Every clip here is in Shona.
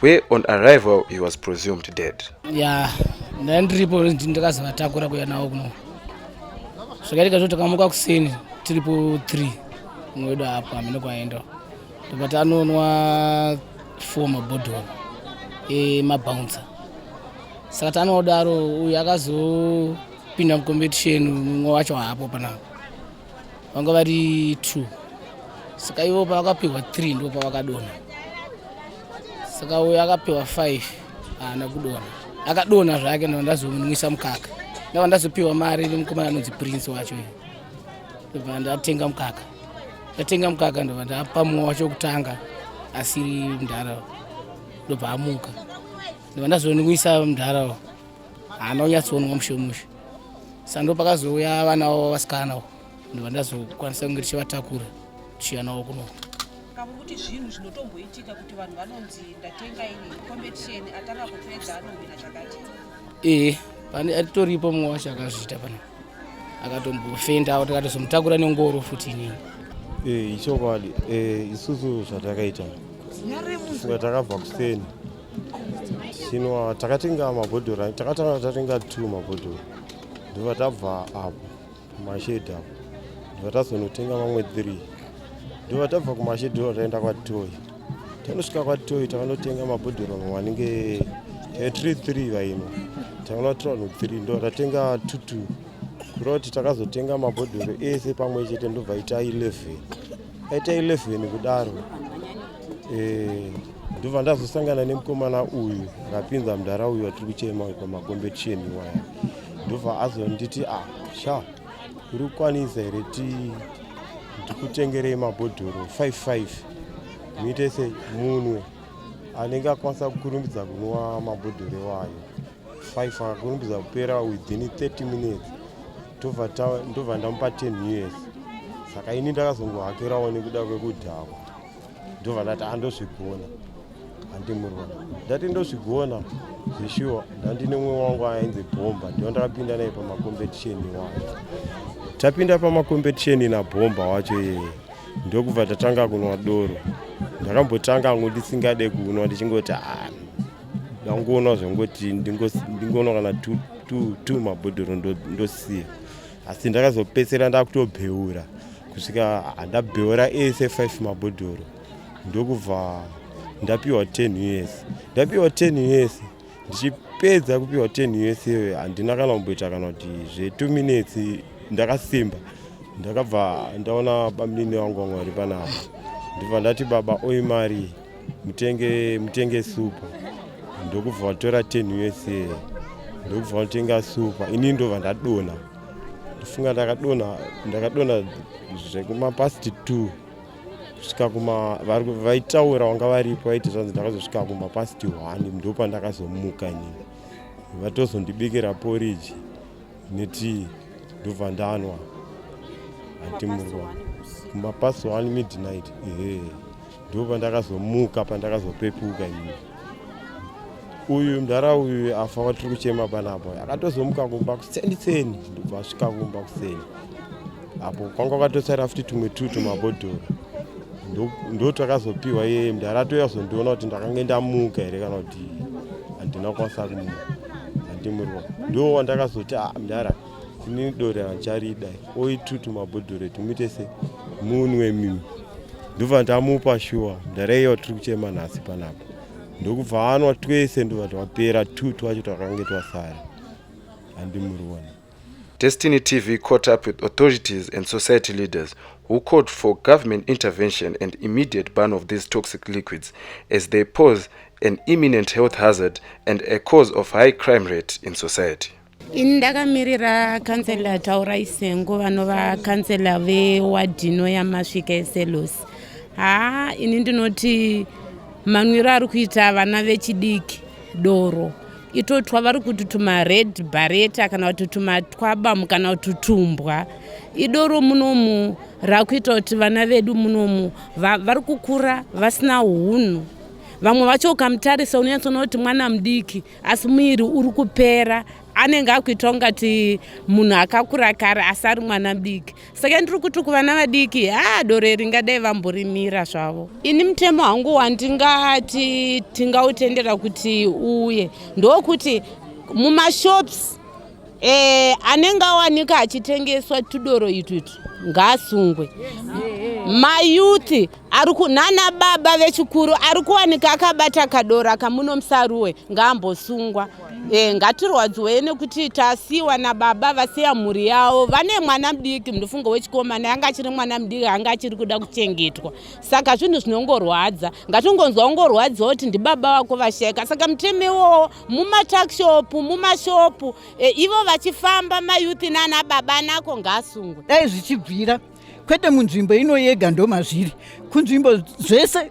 where on arrival he was presumed dead ya ndandiripo ndakazovatakura kuya nawo kuno zvakaitika zvo takamuka kuseni tiripo 3 mumwe wedu apo hamene kwaenda tobati anonwa four mabhodhoro emabounce saka tanoodaro uyu akazopinda mucompetition mumwe wacho haapo panapo vanga vari two saka ivo pavakapiwa three ndo pavakadona saka uyo akapiwa five haana kudona akadona zvake ndava ndazomunwisa mukaka ndava ndazopiwa mari nemukomana anonzi prince wacho ndobva ndatenga mukaka ndatenga mukaka ndobva ndapa mumwe wacho kutanga asiri mdhara ndobva amuka ndobva ndazonwisa mdhara haana kunyatsonwa mushomusho sando pakazouya vana vavo vasikana ndobva ndazokwanisa kunge tichivatakura tichiya navo kuno kavo kuti zvinhu zvinotomboitika kuti vanhu vanonzi ndatenga ini competition atanga kupedza anohwina zvakati ee pane atoripo mumwe wacho akazviita pana akatombofenda kuti akatozomutakura nengoro futi inini ee ichokwadi ee isusu zvatakaita suka takabva kuseni Sino ah, takatenga mabhodhoro takatanga tatenga t mabhodhoro ndova tabva apo kumashedhi apo ndova tazonotenga mamwe three ndova tabva kumashedhi ndova taenda kwatoyi tanosvika kwatoyi takanotenga mabhodhoro mamwe anenge eh, three three vaino takanotora no three ndova tatenga two two kureva kuti takazotenga mabhodhoro ese pamwe chete ndobva ita 11 aita 11 kudaro eh, ndobva ndazosangana nemukomana uyu akapinza mudhara uyu atiri kuchema pamagombetisheni waya ndobva azonditi a ah, sha uri kukwanisa here ti ndikutengerei mabhodhoro 55 muite se munwe anenge akwanisa kukurumbidza kunwa mabhodhoro iwayo 5 akakurumbidza kupera within 30 minutes ndobva ndamupa 10 years saka ini ndakazongohakirawo nekuda kwekudhakwa ndovanati andozvigona handimurwa ndati ndozvigona zvishuwa ndandine mumwe wangu ainzi bhomba ndiyo ndakapinda naye pamakompetisheni wacho tapinda pamakompetisheni nabhomba wacho iyeye ndokubva tatanga kunwa doro ndakambotanga angu ndisingade kunwa ndichingoti ah, ndangonwa zvangoti ndingonwa kana two mabhodhoro ndosiya ndo asi ndakazopedzisira ndakutobheura kusvika handabheura ese 5 mabhodhoro ndokubva ndapiwa 10 us ndapiwa 10 us ndichipedza kupiwa 10 us iyoyo handina kana kumboita kana kuti zve2 minutes ndakasimba ndakabva ndaona bamunini vangu vanga vari panapa ndibva ndati baba oimari mutenge mutenge super ndokubva vatora 10 usa ndokubva vatenga super ini ndobva ndadona ndofunga ndakadona ndakadona zvekumapast t kusvika kuma vaitaura vanga varipo vaiti zvanzi ndakazosvika kumapast one ndopa ndakazomuka nini vatozondibikira poriji netii ndobva ndanwa hantimurwa kumapast one midnight ehe Ndipo pandakazomuka pandakazopepuka ini. Uyu mdara uyu afa watiri kuchema panapa. Akatozomuka kumba kuseni seni ndobva asvika kumba kuseni. Apo kwanga kwatosara futi tumwe tu tumabhodhoro. Ndotakazopiwa yeye mdara atouya kuzondiona kuti ndakange ndamuka here kana kuti handina kukwanisa kumuka. Handimurwa. Ndo wandakazoti ah mdara ini dore handicharida. Oitutu mabhodhoro etu muite se munwe mimi. ndobva ndamupa shuwa ndareiwa tiri kuchema nhasi panapa ndokubva anwa twese ndobva twapera two twacho twakange twasara andimuriona Destiny TV caught up with authorities and society leaders who called for government intervention and immediate ban of these toxic liquids as they pose an imminent health hazard and a cause of high crime rate in society. ini ndakamirira kansela taura isengo vanova kansela vewadhino yamasvika eselos haa ini ndinoti manwiro ari kuita vana vechidiki doro itotwa vari kuti tumared bareta kana kuti tumatwabamu kana kuti tumbwa idoro munomu rakuita kuti vana vedu munomu vari kukura vasina unhu vamwe vacho ukamtarisa unonyatsona kuti mwana mudiki asi muiri uri kupera anenge akuita ungati munhu akakura kare asi ari mwana mdiki saka ndiri kuti kuvana vadiki haa doro iri ngadai vamborimira zvavo ini mutemo hangu wandingati tingautendera kuti uye ndokuti mumashops Eh, anenge awanika achitengeswa tudoro itwitwi ngaasungwe mayuthi ari kunana baba vechikuru ari kuwanika akabata kadoro akamuno musaruwe ngaambosungwa e, ngatirwadziwei nekuti tasiwa nababa vasiya mhuri yavo vane mwana mudiki munofunga wechikomana yanga achiri mwana mudiki anga achiri kuda kuchengetwa saka zvinhu zvinongorwadza ngatingonzwa ungorwadziwa kuti ndibaba vako vashaika saka mutemo iwowo mumatakishopu mumashopu e, ivo vachifamba mayuthi nana baba anako ngaasungwe dai zvichibvira kwete munzvimbo ino yega ndomazviri kunzvimbo zvese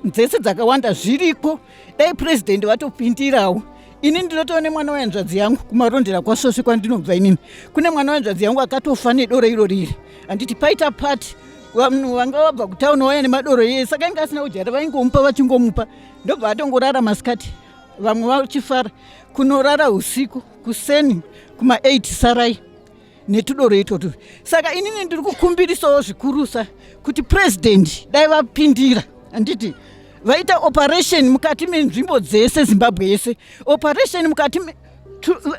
dzese dzakawanda zviriko dai purezidendi vatopindirawo ini ndinotoona nemwana wehanzvadzi yangu kumarondera kwasvosvi kwandinobva inini kune mwana wehanzvadzi yangu akatofa nedoro iro riri handiti paita pati vanhu vanga vabva kutauni waya nemadoro yeye saka inge asina kudyara vaingomupa vachingomupa ndobva atongorara masikati vamwe vachifara kunorara usiku kuseni kuma 8 sarai netudoro itotu saka inini ndiri kukumbirisawo zvikurusa kuti purezidendi dai vapindira handiti vaita operation mukati menzvimbo dzese zimbabwe yese operation mukati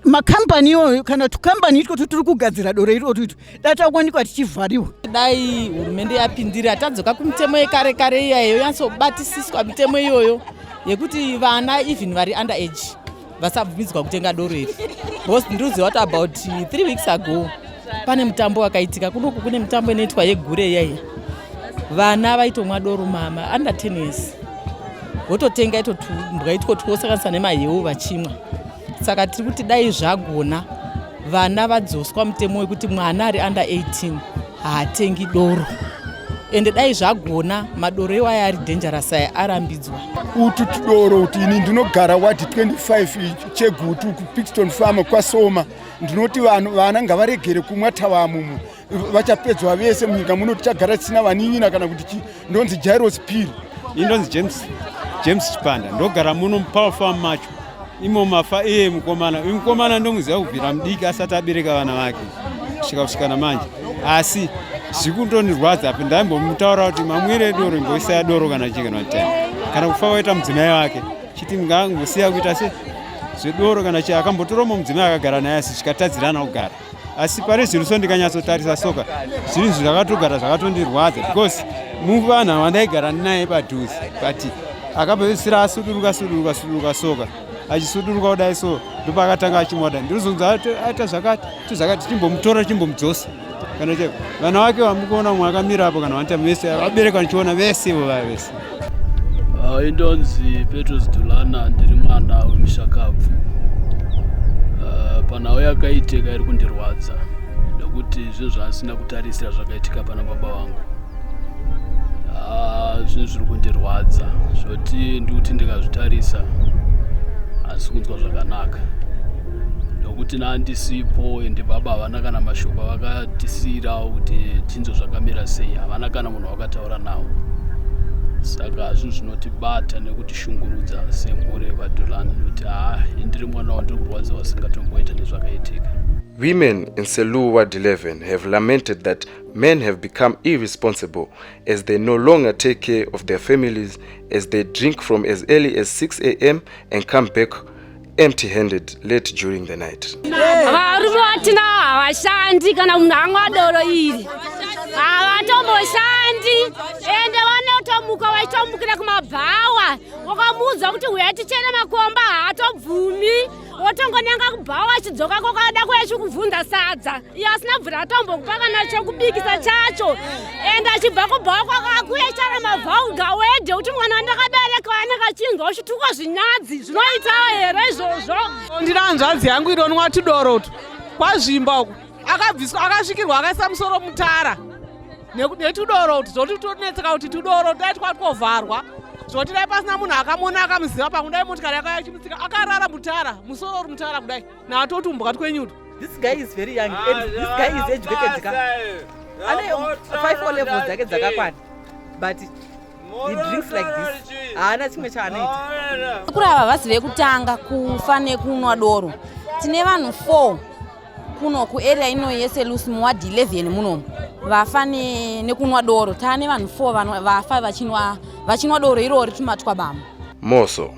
macompany iyoyo kana tucompany itwo tutiri kugadzira doro iro tuito dai takuwanikwa tichivhariwa dai hurumende yapindira tadzoka kumitemo yekare kare iyayo yansobatisiswa mitemo iyoyo yekuti vana even vari under age vasabvumidzwa kutenga doro iri bcause ndiri kuziva kuti about three weeks ago Pane mutambo wakaitika kunoku, kune mitambo inoitwa yegure yaiya, vana vaitomwa doro mama under 10 years vototenga ito tumbwa itwo twosanganisa nemahewu vachimwa. Saka tiri kuti dai zvagona vana vadzoswa mutemo wekuti mwana ari under 18 haatengi doro ende dai zvagona madoro iwaya ari dangerous aya arambidzwa utu tudoro kuti ini ndinogara wadi 25 chegutu kupixton farm kwasoma ndinoti vanhu vana ngavaregere kumwa tavamumu vachapedzwa vese munyika muno tichagara tisina vanin'ina kana kuti chii ndonzi jairos piri indonzi james james chipanda ndogara muno mupower farm macho imo mafa iye mukomana uyu mukomana ndomuziva kubvira mudiki asati abereka vana vake kusvika kusvika namanje asi zvikuntonirwadza apo ndaimbomutaura kuti mamwire doro imboisaya doro kana chii kana kutani kana kufa waita mudzimai wake chiti ngangosiya kuita se zvedoro kana chii akambotora umwe mudzimai akagara naye asi chikatadzirana kugara asi pane zvinhu so ndikanyatsotarisa soka zvinhu zvakatogara zvakatondirwadza because muvanhu avandaigara ndinaye padhuze but akapedzisira asuduruka suduruka suduruka soka achisuduruka kudai so ndopaakatanga achimwada ndinozonzi aita zvakati tizvakati chimbomutora chimbomudzosa kana cheko vana wake vamukuona mwe akamira apo kana vanita vese vabereki vanichiona vese ivo vaya vese ah, indonzi petros dulana ndiri mwana wemushakabvu ah, panhau yakaitika iri kundirwadza nekuti zvinhu zvaasina kutarisira zvakaitika pana baba vangu ah, zvinhu zviri kundirwadza zvoti ndikuti ndikazvitarisa asi kunzwa zvakanaka nokuti nandisipo ende baba havana kana mashoko avakatisiyirawo kuti tinzwe zvakamira sei havana kana munhu wakataura nawo saka zvinhu zvinotibata nekutishungurudza semhuri yevadhulani kuti haa indiri mwana wandiri kurwadziwa singatomboita nezvakaitika Women in Seluwa 11 have lamented that Men have become irresponsible as they no longer take care of their families as they drink from as early as 6 a.m. and come back empty handed late during the night. Varume vatina havashandi kana munhu anga doro iri havatomboshandi ende vanotomuka vaitomukira kumabhawa wakamuudza kuti uya tichene makomba haatobvumi wotongonanga kubhawa achidzoka kokada kuya chikubvunza sadza iyo asina bvura atombokupa kana chokubikisa chacho ende achibva kubhawa kwakakuya chara mavhauga wedhe kuti mwana wandakabereka wanenge achinzwa uchitukwa zvinyadzi zvinoitawo here izvozvo ndiri hanzvadzi yangu ironwa tudoro utu kwazvimba uku akabviswa akasvikirwa akaisa musoro mutara netudoro kuti zvoti tonetseka kuti tudoro dai twaa twovharwa zvoti dai pasina munhu akamona akamuziva pamwe dai motikari yaka yachimutsika akarara mutara musoro uri mutara kudai natotumbwa twenyuto this guy is very young ah, and this guy is educated ka ane five o levels dzake dzakakwana but he drinks like this haana chimwe chaanoita kuri ava vasi vekutanga kufa nekunwa doro tine vanhu four kuno kuarea ino yese lusi muward 11 munomu vafa nekunwa doro taa nevanhu 4 vafa vachinwa doro irori tumatwa bamo moso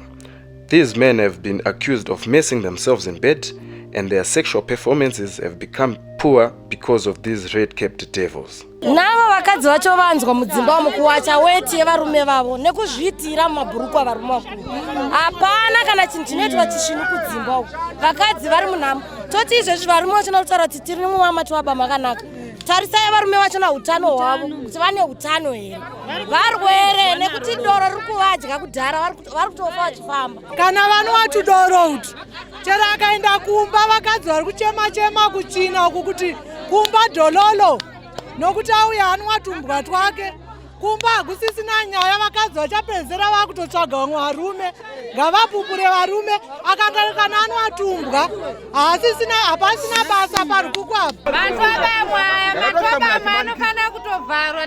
these men have been accused of messing themselves in bed and their sexual performances have become poor because of these red capped devils Navo vakadzi vacho vanzwa mudzimba umu kuwacha weti yevarume vavo nekuzviitira mumabhurukwa avarume vakuru. Hapana kana chinhu chinoitwa chisvinu kudzimba uku. Vakadzi vari munhamo. Toti izvezvi varume vachona kutaura kuti tiri mumama tivaba makanaka. Tarisai varume vacho na utano hwavo kuti vane utano here. Varwere nekuti doro riri kuvadya kudhara vari kutofa vachifamba. Kana vanwa tudoro utu chero akaenda kumba vakadzi vari kuchema chema kuchina uku kuti kumba dololo nokuti auya hanwa tumbwa twake kumba hakusisina nyaya vakadzi vachapedzera vakutotsvaga vamwe varume ngavapupure varume akangaikana anoatumbwa haasisina hapasina basa parikuku apa matwabamwaya matwabama anofanira kutovharwa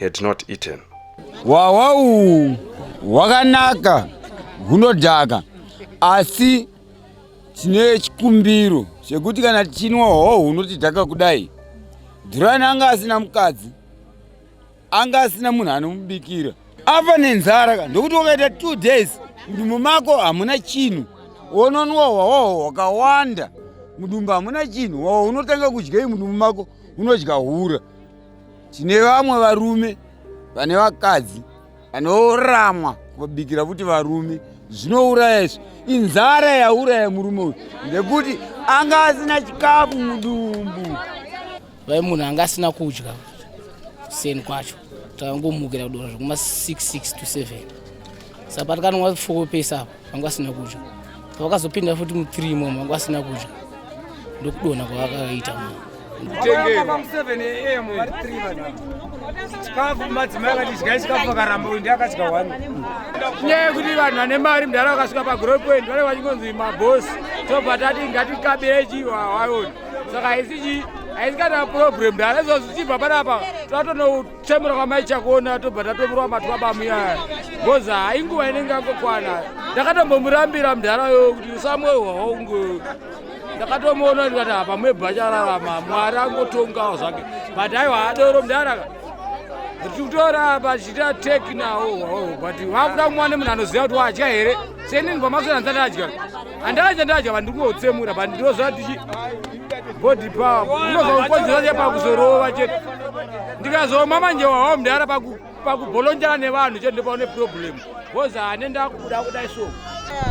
had not eaten. Wawau wakanaka hunodhaka asi tine chikumbiro chekuti kana tichinwa hoho hunotidhaka kudai Dhurani anga asina mukadzi anga asina munhu anomubikira afa nenzara ka ndokuti wakaita two days mudumbu mako hamuna chinhu wononwa hwahoho hwakawanda mudumbu hamuna chinhu wawo unotanga kudyei mudumbu mako unodya hura tine vamwe varume vane vakadzi vanoramwa kubikira futi varume zvinouraya izvi inzara yauraya murume uyu ngekuti anga asina chikafu mudumbu vai munhu anga asina kudya seni kwacho takangomukira kudora zvekuma 66 to 7 sapa tikanonga fokopesa apo vanga vasina kudya pavakazopinda futi muthree imomo vanga vasina kudya ndokudona kwavakaita chikafu madzimai akadidya chikafu akaramba uyu ndiakadya wani nyaya yekuti vanhu vane mari mudhara vakasvika pagrow point vanenge vachingonzi mabosi tobva tati ngatikabire chivo hawaioni saka haisi chii haisi kana problem mudhara izvozvo chibva panapa tatonoutwa kuchemura kwamai chakona tobva tatomurwa matwa bamuyaya bcoz hai nguva inenge yangokwana ndakatombomurambira mudharayo kuti usamwe hwaungu ndakatomuona ndikati apa mwebva chararama mwari angotongawo zvake but aiwa adoro mudharaka titora apa tichiita teki nawo but vakuda kumwana munhu anoziva kuti wadya here seni ndibva masoranzati adya handava chandadya vanhu ndikungotsemura but ndinozva tichi body power unozva kukonzera che pakuzorova chete ndikazoma manje wawa mdara pakubolonjana nevanhu chete ndopaune problem bcause hane ndakuda kudai so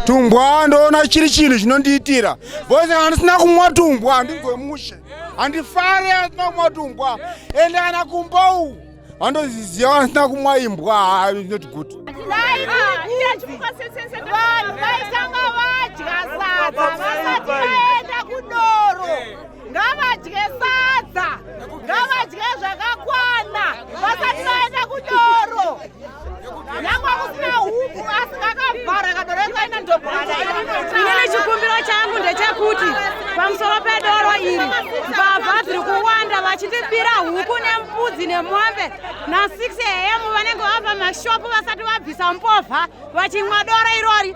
tumbwa ndoona chiri chinhu chinondiitira bcause handisina kumwa tumbwa handinzwe mushe handifare handisina kumwa tumbwa ende kana kumba uku vandoziziva vasina kumwa imbwa not good vanhu vaitanga vadya sadza vasati vaenda kudoro ngavadye sadza ngavadye zvakakwana vasati vaenda kudoro inini chikumbiro changu ndechekuti pamusoro pedoro iri mbavha dziri kuwanda vachitibira huku nembudzi nemombe na6 am vanenge vava mashopu vasati vabvisa mbovha vachimwa doro irori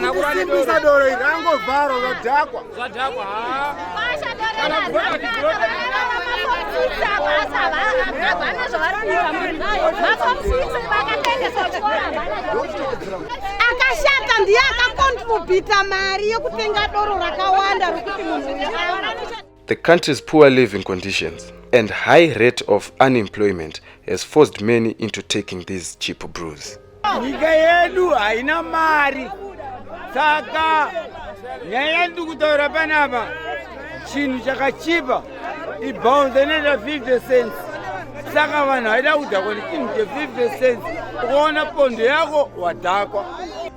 ndokusimbisa doro iri angovharo zvadhakwa zvadhakwa akashata ndiye akakontribhita mari yekutenga doro rakawanda rokuti munhu The country's poor living conditions and high rate of unemployment has forced many into taking these cheap brews. Nyika yedu haina mari saka nyaya yandiri kutaura panapa chinhu chakachipa ibhaunze inoita 50 cents saka vanhu haida kudhakwa nechinhu che 50 cents ukaona pondo yako wadhakwa